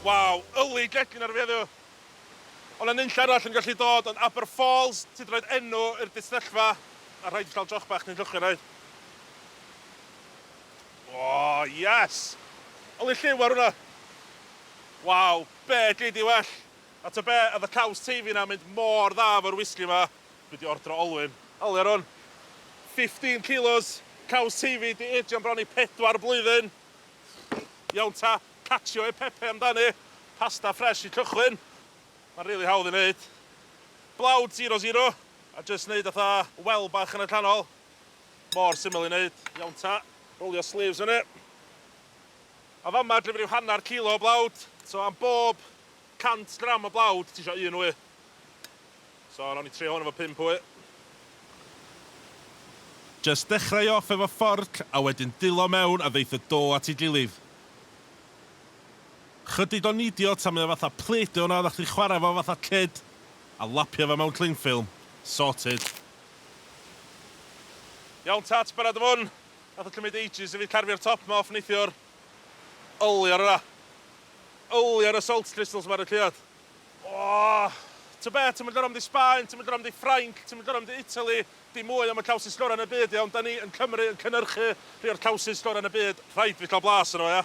Waw, yli gegin ar fi heddiw! Ond na nunlle arall yn gallu dod ond Aber Falls, ti 'di rhoid enw i'r distrellfa, a rhaid i cael joch bach cyn llochio rhaid. O, yes! Yli lliw ar hwnna! Waw, be gei di well? A ta be, oedd y caws teifi 'na'n mynd mor dda efo'r wisgi 'ma, dwi 'di ordro olwyn. Yli ar hwn. Fifteen kilos, caws teifi, 'di eidio'n bron i pedwar blwyddyn. Iawn ta, cacio e pepe amdani. Pasta ffresh i cychwyn. Mae'n rili hawdd i wneud. Blawd zero zero a jyst wneud fatha well bach yn y canol. Mor syml i wneud. Iawn ta, rowlio sleeves fyny. A fama dwi wedi rhyw hanner kilo o blawd. So am bob 100 gram o blawd, ti isio un wy. So nawn ni trio hwn efo pump wy. Jyst dechrau off efo fforc a wedyn dilo mewn a ddeith y do at ei gilydd. Chydig o nidio tan mae o fatha play-doh yna oddach chdi'n chwarae efo fatha kid a lapio fo mewn clingffilm. Sorted. Iawn Tats, barod am hwn? Nath o cymryd ages i fi carfio'r top 'ma off neithiwr. Yli ar yna! Yli ar y salt crystals 'ma ar y caead! Ohh! T'o' be', ti'm yn gor'o' mynd i Sbaen, ti'm yn gor'o' mynd i Ffrainc, ti'm yn gor'o' mynd i Italy, dim mwy am y cowsus gora' yn y byd, iawn? 'Dan ni yn Cymru yn cynyrchu rhei o'r cowsus gora' yn y byd, rhaid i fi ca'l blas arno fo, ia?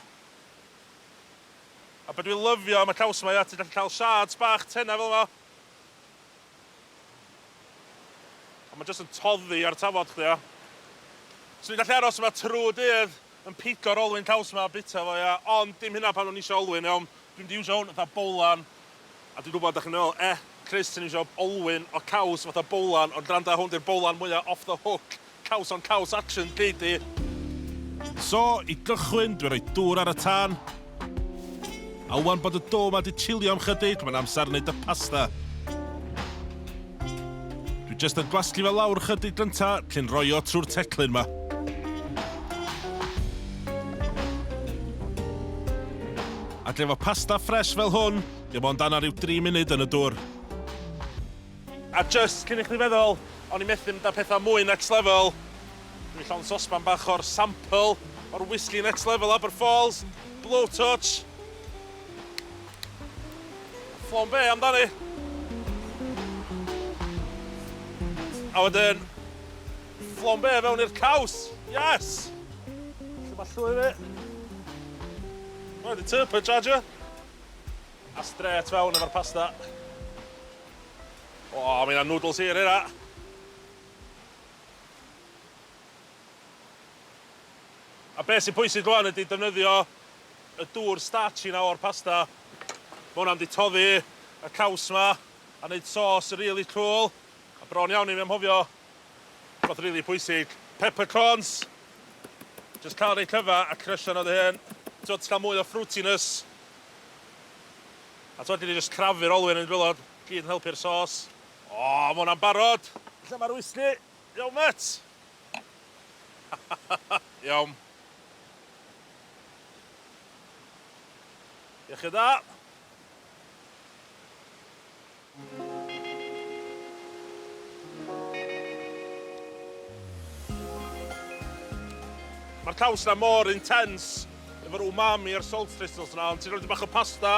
A be' dwi lyfio am y caws 'ma, ia, ti'n gallu ca'l shards bach tena fel 'ma. A ma' jyst yn toddi ar tafod chdi, ia? Swn i'n gallu aros yma trw'r dydd! yn pigo'r olwyn caws ma a bita fo ia ond dim hynna pan o'n i isio olwyn iawn dwi mynd i iwsio hwn fatha bowlan a dwi'n gwbod dach chi'n meddwl e Chris ti'n iwsio olwyn o caws fatha bowlan ond granda hwn di'r bowlan mwya off the hook caws on caws action gei di. So i gychwyn dwi'n rhoi dŵr ar y tân A ŵan bod y do 'ma 'di chillio am chydig, mae'n amser wneud y pasta. Dwi jyst yn gwasgu fe lawr chydig gynta, cyn roi o trwy'r teclyn 'ma. Ac efo pasta ffres fel hwn, dim ond anner ryw dri munud yn y dwr. A jyst cyn i chdi feddwl, o'n i methu mynd â pethau mwy next level, Dwi llawn sosban bach o'r sample o'r Whiskey Next Level Aberfalls Blowtorch. Flambe amdani. A wedyn, flambe fewn i'r caws! Yes! Lle mae llwy fi? Rhaid i turbo charger. A strêt fewn efo'r pasta. O, mae yna noodles hir hynna. A beth sy'n pwysig rwan ydy defnyddio y dŵr starchy 'na o'r pasta. Ma' hwnna'n mynd i toddi y caws 'ma a neud sos rili cŵl. A bron iawn i fi anghofio rwbath rili pwysig, peppercorns! Jyst ca'l rei cyfa a crysho nhw dy hun. T'mod, ti ca'l mwy o fruitiness. A t'mod, gei di jyst crafu'r olwyn yn gwilod, gyd yn helpu'r sos. O, ma' hwnna'n barod! Lle ma'r wisgi? Iawn mêt! Iawn. Iechyd dda! Ma'r caws 'na mor intense efo'r umami a'r salt crystals 'na, ond ti'n rhoi dipyn bach o pasta